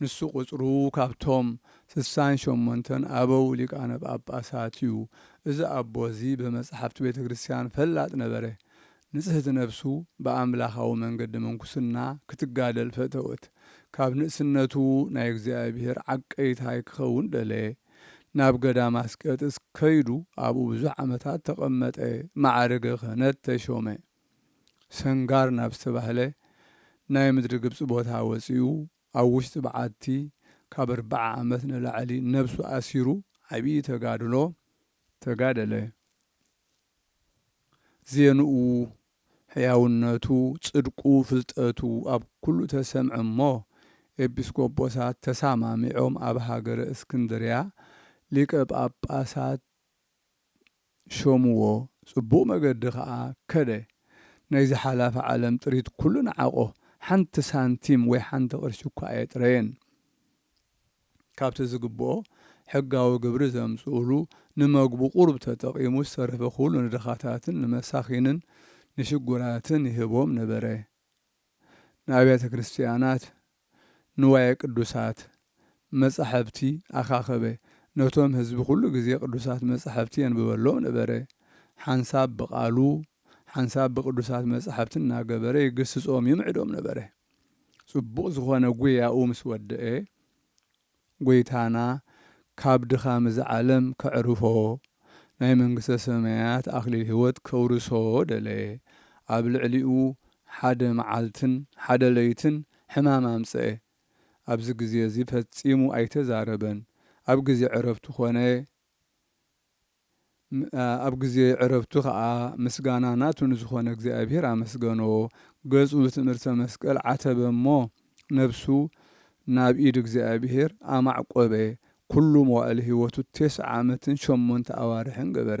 ንሱ ቁጽሩ ካብቶም ስሳን ሸሞንተን ኣበው ሊቃነ ጳጳሳት እዩ። እዚ ኣቦ እዚ ብመጻሕፍቲ ቤተ ክርስቲያን ፈላጥ ነበረ። ንጽህቲ ነፍሱ ብኣምላኻዊ መንገዲ ምንኩስና ክትጋደል ፈተወት። ካብ ንእስነቱ ናይ እግዚኣብሔር ዓቀይታይ ክኸውን ደለየ። ናብ ገዳም ኣስቄጥስ ከይዱ ኣብኡ ብዙሕ ዓመታት ተቐመጠ፣ መዓርገ ክህነት ተሾመ። ሰንጋር ናብ ዝተባህለ ናይ ምድሪ ግብጺ ቦታ ወጺኡ ኣብ ውሽጢ በዓቲ ካብ ኣርብዓ ዓመት ንላዕሊ ነብሱ ኣሲሩ ዓብዪ ተጋድሎ ተጋደለ። ዜንኡ፣ ሕያውነቱ፣ ጽድቁ፣ ፍልጠቱ ኣብ ኩሉ ተሰምዐ እሞ ኤጲስቆጶሳት ተሳማሚዖም ኣብ ሃገረ እስክንድርያ ሊቀ ጳጳሳት ሾምዎ፣ ጽቡቕ መገዲ ከኣ ከደ። ናይዚ ሓላፊ ዓለም ጥሪት ኩሉ ነዓቖ፣ ሓንቲ ሳንቲም ወይ ሓንቲ ቅርሺ እኳ ኣየጥረየን። ካብቲ ዝግብኦ ሕጋዊ ግብሪ ዘምጽኡሉ ንመግቡ ቁሩብ ተጠቒሙ ዝተረፈ ኩሉ ንድኻታትን ንመሳኺንን ንሽጉራትን ይህቦም ነበረ። ንኣብያተ ክርስትያናት ንዋየ ቅዱሳት መጻሕፍቲ ኣኻኸበ። ነቶም ህዝቢ ኩሉ ግዜ ቅዱሳት መጻሕፍቲ የንብበሎም ነበረ። ሓንሳብ ብቓሉ ሓንሳብ ብቅዱሳት መጻሕፍቲ እናገበረ ይግስጾም፣ ይምዕዶም ነበረ። ጽቡቕ ዝኾነ ጉያኡ ምስ ወደኤ፣ ጐይታና ካብ ድኻም እዛ ዓለም ከዕርፎ፣ ናይ መንግስተ ሰማያት ኣኽሊል ሕይወት ከውርሶ ደለየ። ኣብ ልዕሊኡ ሓደ መዓልትን ሓደ ለይትን ሕማም ኣምጽአ። ኣብዚ ግዜ እዚ ፈጺሙ ኣይተዛረበን፣ ኣብ ግዜ ዕረፍቱ ዀነ። ኣብ ግዜ ዕረፍቱ ኸኣ ምስጋና ናቱ ንዝኾነ እግዚኣብሔር ኣመስገኖ፣ ገጹ ብትእምርተ መስቀል ዓተበ እሞ ነፍሱ ናብ ኢድ እግዚኣብሔር ኣማዕቈበ፣ ኵሉ መዋእል ሕይወቱ ቴስዓ ዓመትን ሸሞንተ ኣዋርሕን ገበረ።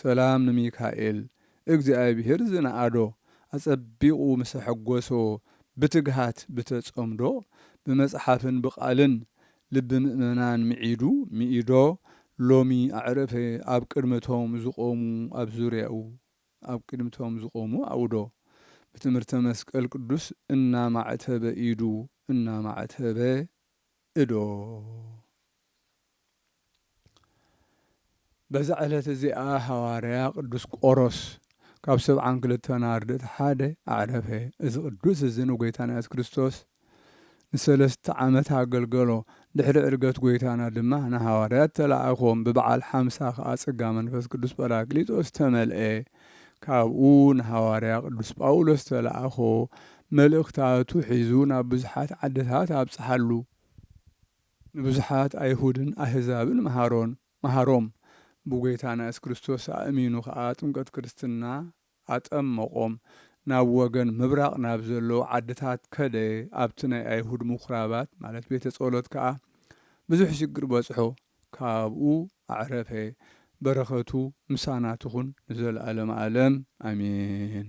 ሰላም ንሚካኤል እግዚኣብሔር ዝነኣዶ ኣጸቢቑ ምስ ኣሐጐሶ ብትግሃት ብተጸምዶ ብመጽሓፍን ብቃልን ልቢ ምእመናን ምዒዱ ምኢዶ ሎሚ ኣዕረፈ ኣብ ቅድሚ እቶም ዝቖሙ ኣብ ዙርያኡ ኣብ ቅድሚ እቶም ዝቖሙ ኣውዶ ብትምህርተ መስቀል ቅዱስ እናማዕተበ ኢዱ እናማዕተበ እዶ በዛ ዕለት እዚኣ ሃዋርያ ቅዱስ ቆሮስ ካብ ሰብዓን ክልተን ኣርድእት ሓደ ኣዕረፈ። እዚ ቅዱስ እዚ ንጐይታና የሱስ ክርስቶስ ንሰለስተ ዓመት ኣገልገሎ። ድሕሪ ዕርገት ጐይታና ድማ ንሃዋርያት ተላእኮም፣ ብበዓል ሓምሳ ከኣ ጸጋ መንፈስ ቅዱስ ጰራቅሊጦስ ተመልአ። ካብኡ ንሃዋርያ ቅዱስ ጳውሎስ ተላእኮ፣ መልእኽታቱ ሒዙ ናብ ብዙሓት ዓድታት ኣብጽሓሉ። ንብዙሓት ኣይሁድን ኣህዛብን መሃሮን መሃሮም፣ ብጐይታና የሱስ ክርስቶስ ኣእሚኑ ኸኣ ጥምቀት ክርስትና ኣጠመቖም። ናብ ወገን ምብራቕ ናብ ዘለዉ ዓድታት ከደ፣ ኣብቲ ናይ ኣይሁድ ምኵራባት ማለት ቤተ ጸሎት ከኣ ብዙሕ ሽግር በጽሖ፣ ካብኡ ኣዕረፈ። በረኸቱ ምሳና ትኹን ንዘለኣለመ ኣለም ኣሜን።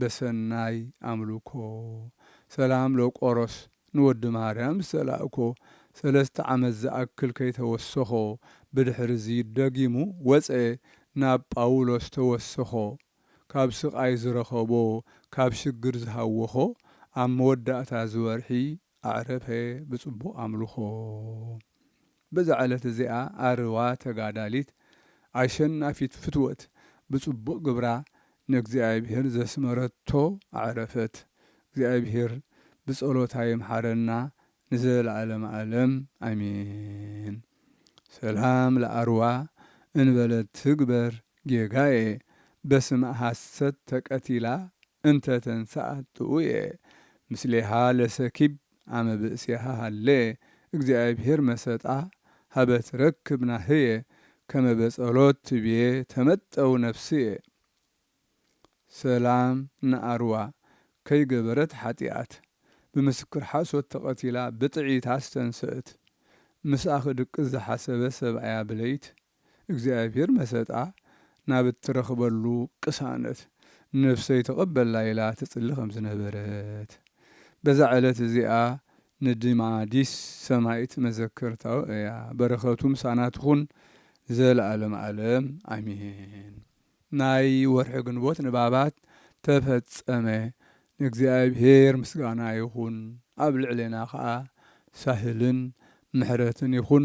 በሰናይ ኣምልኮ ሰላም ለቆሮስ ንወዲ ማርያም ዝተላእኮ ሰለስተ ዓመት ዝኣክል ከይተወሰኾ ብድሕርዚ ደጊሙ ወጸ ናብ ጳውሎስ ተወሰኾ ካብ ስቓይ ዝረኸቦ ካብ ሽግር ዝሃወኾ ኣብ መወዳእታ እዚ ወርሒ ኣዕረፈ ብጽቡቕ ኣምልኮ። በዛ ዕለት እዚኣ ኣርዋ ተጋዳሊት ኣሸናፊት ፍትወት ብጽቡቅ ግብራ ንእግዚኣብሄር ዘስመረቶ ኣዕረፈት እግዚኣብሄር ብጸሎታ ይምሓረና ንዘለኣለም ኣለም ኣሜን ሰላም ለኣርዋ እንበለ ትግበር ጌጋየ በስመ ሐሰት ተቀቲላ እንተ ተንሰኣት ጥኡየ ምስሌሃ ለሰኪብ ኣመ ብእሴሃ ሃሌ እግዚኣብሔር መሰጣ ሀበ ትረክብ ናህየ ከመ በጸሎት ትቤ ተመጠው ነፍስየ። ሰላም ንኣርዋ ከይገበረት ሓጥያት ብምስክር ሓሶት ተቀቲላ ብጥዒት ኣስተንሰእት ምስኣ ክድቅስ ዝሓሰበ ሰብኣያ ብለይት። እግዚኣብሔር መሰጣ ናብ እትረኽበሉ ቅሳነት ነፍሰይ ተቐበላ ኢላ ትጽሊ ከም ዝነበረት በዛ ዕለት እዚኣ ንድማዲስ ሰማይት መዘከርታኡ እያ በረከቱ ምሳና ትኹን ዘልኣለም ኣለም ኣሜን። ናይ ወርሒ ግንቦት ንባባት ተፈጸመ ንእግዚኣብሔር ምስጋና ይኹን ኣብ ልዕሌና ከኣ ሳህልን ምሕረትን ይኹን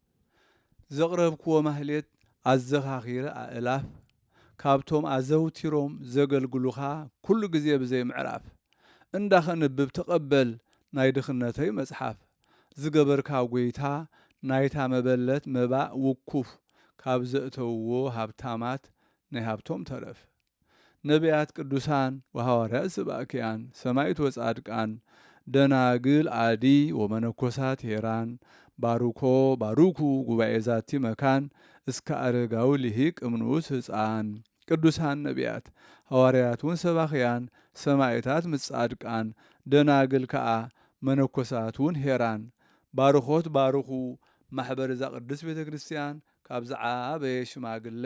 ዘቕረብክዎ ማህሌት ኣዘኻኺረ ኣእላፍ ካብቶም ኣዘውቲሮም ዘገልግሉኻ ኩሉ ግዜ ብዘይ ምዕራፍ እንዳ ከንብብ ተቐበል ናይ ድኽነተይ መጽሓፍ ዝገበርካ ጎይታ ናይታ መበለት መባእ ውኩፍ ካብ ዘእተውዎ ሃብታማት ናይ ሃብቶም ተረፍ ነብያት ቅዱሳን ወሃዋርያት ስብኣክያን ሰማይት ወጻድቃን ደናግል ኣዲ ወመነኮሳት ሄራን ባርኮ ባሩኩ ጉባኤ ዛቲ መካን እስከ ኣረጋዊ ሊሂቅ እምንኡስ ህጻን ቅዱሳን ነብያት ሃዋርያት ውን ሰባክያን ሰማይታት ምስ ጻድቃን ደናግል ከኣ መነኮሳት ውን ሄራን ባርኮት ባርኩ ማሕበር እዛ ቅድስት ቤተክርስትያን ካብ ዝዓበየ ሽማግለ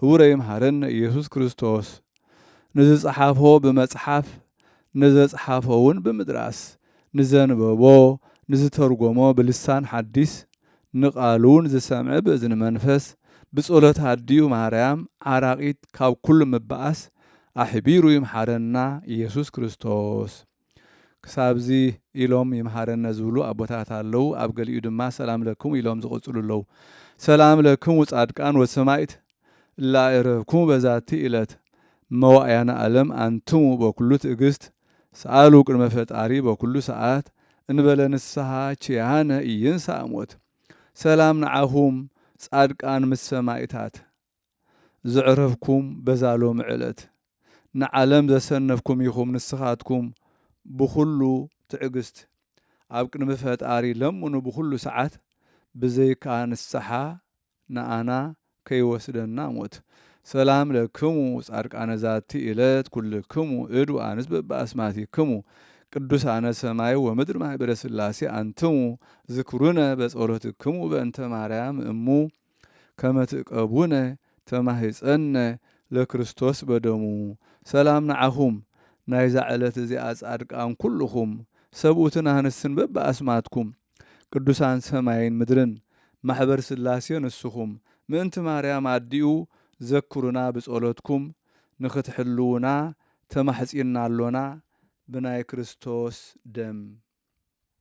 ህቡረ ይምሃረነ ኢየሱስ ክርስቶስ ንዝጸሓፎ ብመጽሓፍ ንዘጽሓፎውን ብምድራስ ንዘንበቦ ንዝተርጎሞ ብልሳን ሓዲስ ንቃሉውን ዝሰምዐ ብእዝኒ መንፈስ ብጸሎት ኣዲኡ ማርያም ዓራቂት ካብ ኩሉ ምባኣስ ኣሕቢሩ ይምሓረና ኢየሱስ ክርስቶስ። ክሳብዚ ኢሎም ይምሃረነ ዝብሉ ኣቦታት ኣለው ኣብ ገሊኡ ድማ ሰላም ለክሙ ኢሎም ዝቅጽሉ ኣለው ሰላም ለክሙ ጻድቃን ወሰማኢት እላእረፍኩሙ በዛቲ እለት መዋእያነ ኣለም ኣንትሙ በኩሉ ትእግስት ሰኣሉ ቅድመ ፈጣሪ በኩሉ ሰኣት እንበለ ንስሃ ችያነ ኢይንሳእ ሞት ሰላም ንዓኹም ጻድቃን ምስ ሰማኢታት ዘዕረፍኩም በዛ ሎሚ ዕለት ንዓለም ዘሰነፍኩም ኢኹም ንስኻትኩም ብኹሉ ትዕግስት ኣብ ቅድሚ ፈጣሪ ለምኑ ብኹሉ ሰዓት ብዘይካ ንስሓ ንኣና ከይወስደና ሞት ሰላም ለክሙ ጻድቃነ ዛቲ እለት ኩልክሙ እድ ወኣንስት በብኣስማቲክሙ ቅዱሳነ ሰማይ ወምድር ማህበረ ስላሴ ኣንትሙ ዝክሩነ በጸሎትክሙ በእንተ ማርያም እሙ ከመ ትእቀቡነ ተማሂጸነ ለክርስቶስ በደሙ ሰላም ንዓኹም ናይዛ ዕለት እዚኣ ጻድቃን ኩሉኹም ሰብኡትን ኣንስትን በብኣስማትኩም ቅዱሳን ሰማይን ምድርን ማሕበር ሥላሴ ንስኹም ምእንቲ ማርያም ኣዲኡ ዘክሩና ብጸሎትኩም ንኽትሕልዉና ተማሕጺንና ኣሎና ብናይ ክርስቶስ ደም